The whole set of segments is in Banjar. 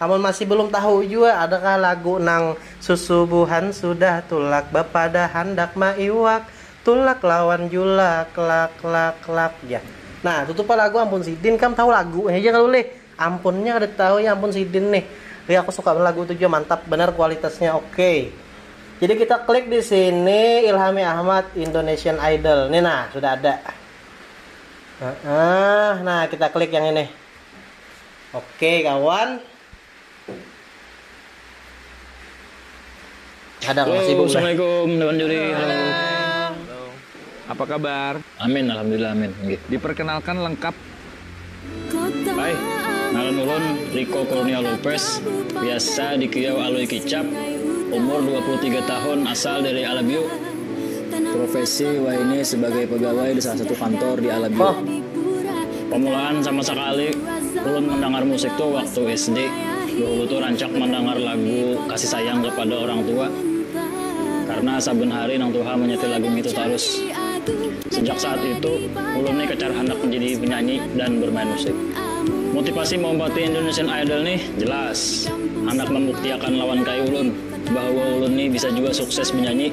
Amun masih belum tahu jua adakah lagu nang Susubuhan sudah tulak bapadah handak maiwak Tulak lawan julak lak lak lak Jar. Nah tutu pang lagu ampun sidin kam tahu lagunya ja kalu lih ampunnya kada tahu ya ampun sidin nih lih aku suka banar lagu itu jua mantap banar kualitasnya ok jadi kita klik disini ilhami ahmad indonesian idol nih nah sudah ada nah kita klik yang ini. Oke kawan. Ada nggak sibuk? Assalamualaikum lawan juri. Halo. Halo. Apa kabar? Amin, alhamdulillah amin. Nggih. Diperkenalkan lengkap. Hai, ngaran ulun Rico Kurnia Lopez, biasa dikiau Alui Kicap, umur dua puluh tiga tahun, asal dari Alabio. Profesi wayahini sebagai pegawai di salah satu kantor di Alabio. Pamulaan sama sakali ulun mandangar musik tu waktu SD, bahulu tu rancak mandangar lagu kasih sayang kapada orang tua karna saben hari nang tuha manyetel lagu ngitu tarus. Sejak saat itu, ulun ni kacar handak manjadi penyanyi dan bermain musik. Motipasi maumpati Indonesian Idol ni jelas handak mambuktiakan lawan kai ulun bahwa ulun ni bisa jua sukses menyanyi.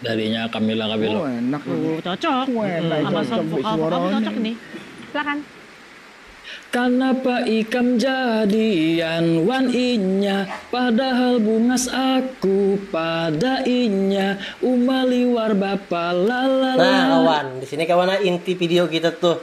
Darinya Camilla Cabello. Oh enak ini. Oh, cocok. Oh, enak hmm. Sama cocok vokal vokal tuh cocok nih. Silakan. Kanapa ikam jadian wan inya padahal bungas aku pada inya uma liwar bapa lalala. Nah kawan, di sini kawan inti video kita tuh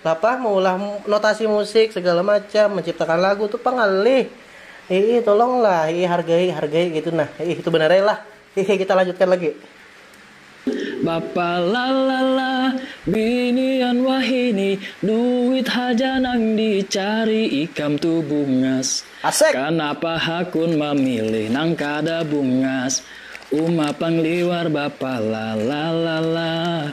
Napa maulah notasi musik segala macam, menciptakan lagu tu pang ngalih. Hiih tolong lah, hiih hargai, hargai gitu nah. Hiih itu banar ai lah. Hiih kita lanjutkan lagi. Bapa lalala, binian wahini, duit haja nang dicari ikam tu bungas. Asik. Kanapa hakun mamilih nang kada bungas, uma pang liwar bapa lalala.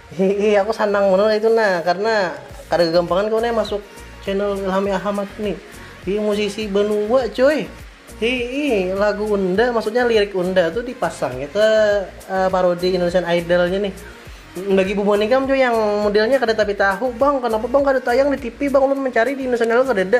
Hihi aku sanang banar itu nah karena kada kegampangan kau nih masuk channel Ilhami Ahamat nih. Hi musisi banua cuy. Hi lagu Unda maksudnya lirik Unda tuh dipasangnya ke uh, parodi Indonesian Idolnya nih. Bagi Bu Monikam cuy yang modelnya kada tapi tahu bang kenapa bang kada tayang di TV bang ulun mencari di Indonesian Idol kada ada